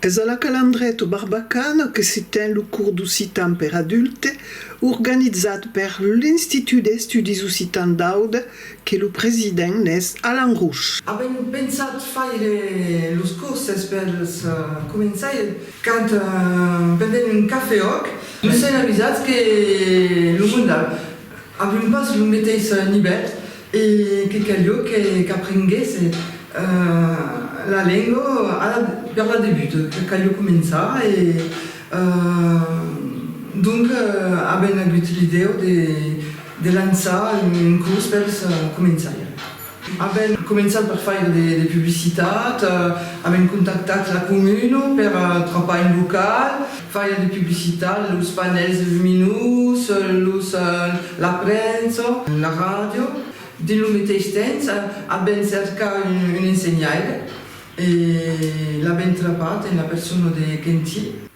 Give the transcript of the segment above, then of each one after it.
Es a la Calandreta Barbacana que se ten lo cors d'occitan per adulte organizat per l'Institut d'Estudis Occitans d'Aude que lo president n'es Alan Rouch. Avèm pensat faire los corses per los començaires quand pendent un cafè òc nos sèn avisats que lo mondal Avèm pas lo meteis nivèl e que calió qu'aprenguèsse la lenga per la debut, que calió començar e donc avèm agut l'idèu de lançar un curs pels començaires. Avèm començat per faire de publicitat, avèm contactat la comuna per trapar un local, faire de publicitat, los panèls luminós, los la premsa, la ràdio. Dins lo meteis temps avèm cercat un ensenhaire e l'avèm trapat en la persona de Quentin.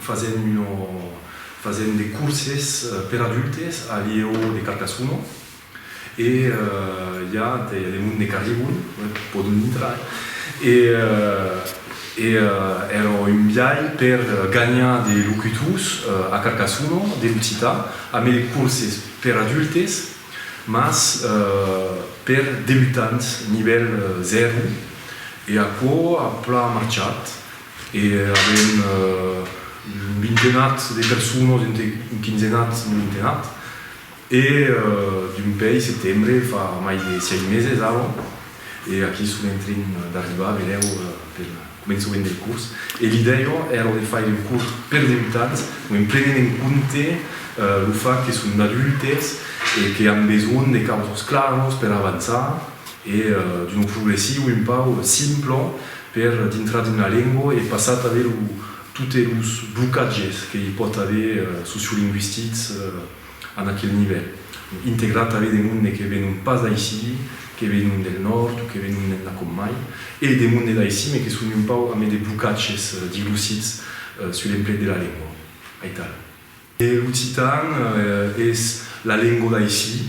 Fasèm de corses per adultes a Lieu de Carcassona e i a de monde qu'arribon, pòdon intrar e èra un biai per ganhar de locutors a Carcassona de l'occitan, a mai de corses per adultes, mas per debutants nivèl 0 e aquò a plan marchat. E avèm un vintenat de personas, un quinzenat, un vintenat. E dumpèi setembre, fa mai de sièit meses ara, e aquí son en tren d'arribar, vedèu, pel començament del curs. E l'idèia èra de faire un curs per debutants, o en prenent en compte lo fach que son d'adultes e que an besonh de causas claras per avançar e d'un progressiu un pauc simple per dintrar dins la lengua e passar tanben totes los blocatges que i pòt aver sociolingüistics en aquel nivèl, integrar tanben de monde que venon pas d'aicí, que venon del nòrd o que venon d'enlà com mai, e de monde d'aicí me que son un pauc ambe de blocatges dilucids sus l'emplec de la lengua. Aital. E l'occitan es la lengo d'aicí,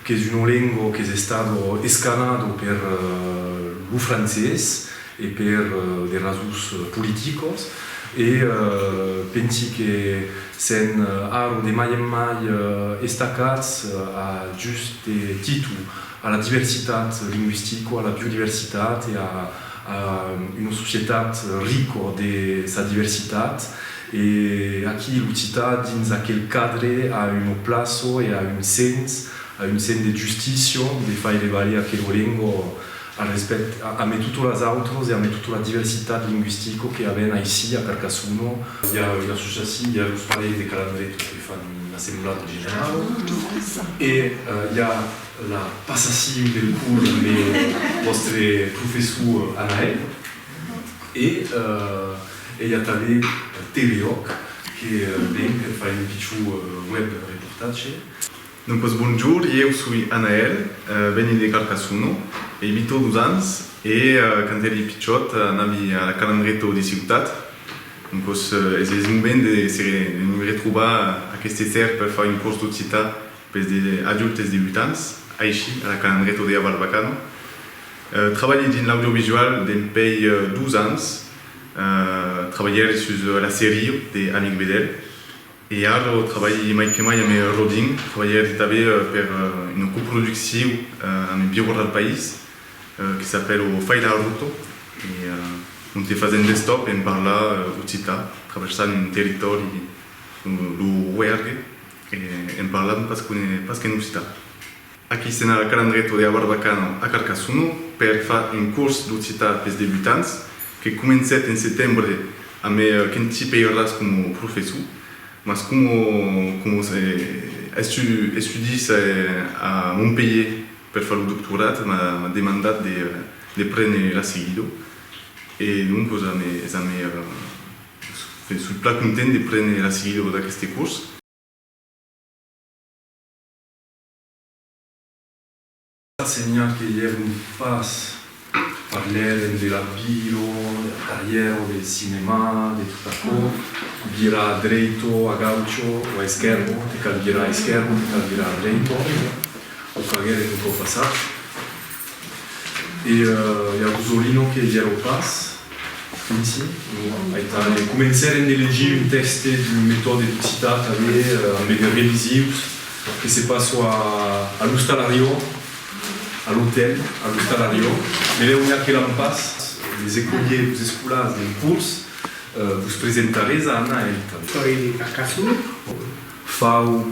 qu'es una lengo qu'es estado escanado per lo francés e per de rasons politicos e pensi que s'en arro de mai en mai estacats a just titu a la diversitat lingüistico, a la biodiversitat e a una societat rico de sa diversitat e aquí l'occitan a dins aquel cadre a una plaço e a un sens, a un sens de justicio de faire valer aquelo lengo al respèct a me totos las autros e a me totes la diversitat lingüistico que avèn aicí a Carcassono. I a una associacion, i a los parelhs de calandretos que fan una semblada generala e i a. La passassiu del curs amb lo vòstre professor Anaèl e i a tanben TVOC que ven per far un pichon web reportatge. Non pas bonjour, ieu soi Anaèl, veni de Carcassona, i bito dos ans e quand èri pichòt anavi a la Calangreta de Ciutat, non pas es es moment de se retrobar aqueste ter per far un cors d'occitan. Pes de adultes de 8 ans, aicí a la Calandreto dea Barbacano. Trabalhi dins l'audiovisual dempèi 2 ans. Trabalhèri sus la serie de Amic Bedel e ara trabalhi mai que mai amé Rodin. Trabalhèri tabé per una coproducciu amé Birro dal País que s'apèl O Fai la Ruto e onte fasèm d'estop en parlar occità traversant un territòri, lo Roergue. En parlam pas qu'une pas qu'en occitan. Aquí se n'a Calandreto de Abarbacano a Carcassono per fa un cors d'occitan pes debutants que comencèt en setembre a me qu'en ti peiràs como professor mas como como estu estudis a Montpelhier per fa lo doctorat m'a m'a demandat de de prene la seguido e donc za me za me Pen soi plan content de prene la seguida d'aqueste curs. Senhar que ièron pas, parlèren de la biro, de la carrièra o del cinèma, de tot aquò, virar a dreito, a gaucho o a esquèrbo, te cal virar a esquèrbo, te cal virar a dreito, o faguèren un còp passat. E i a Rosolino que vierò pas, Vinci? Non, aital, e comencèrem de legir un tèxte d'un metòde d'occitan tanben amb de revisius que se passo a l'ostalariò, a l'otèl, a l'ostalariò, melèu ja que l'an pas, les écoliers, los escolars d'un curs, vos presentarés a Anna, aital. Toi, Carcassona? Fau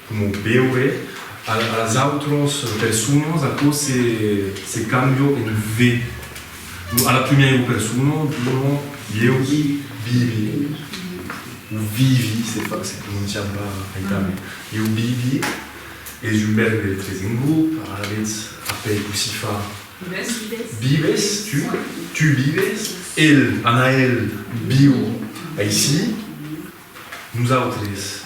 Coma veure a las autras personas, aquò se cambia en ve. A la primièra persona dona ieu vivi, o vivi se prononciam pas aital, ieu vivi es un vèrbe tres en grop, alavetz apèi cossí fa, vives, tu, tu vives, el, Anaèl, viu aicí, nosautres.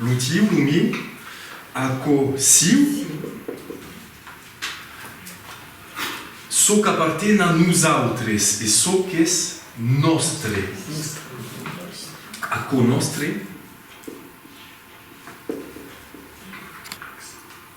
Lo tiu, lo miu, aquò siu, çò qu'aparten a nosautres e çò qu'es nòstre, aquò nòstre.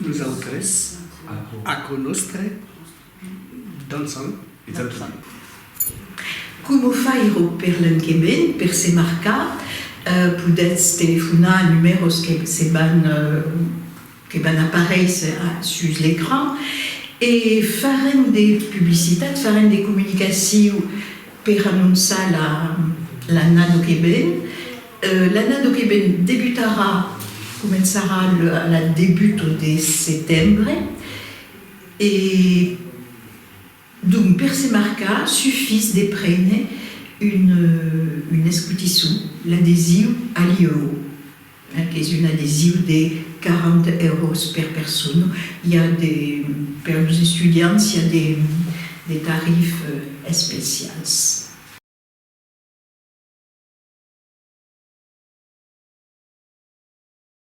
Nosaltres, aquò nòstre, dansam. Coma faire per l'enquement, per se marcar? Podètz telefonar a numèros que se van que van aparéisser sus l'ecran e farem de publicitat, farem de comunicaciu per anonçar l'annado que ven. L'annado que ven debutarà, començarà a la debuto de setembre e. Donc per se marcar sufís de prene un escotisson, l'adesiu Allieu, qu'es un adesiu de 40 euros per persona, i a de, per los estudiants, i a de tarifs especials.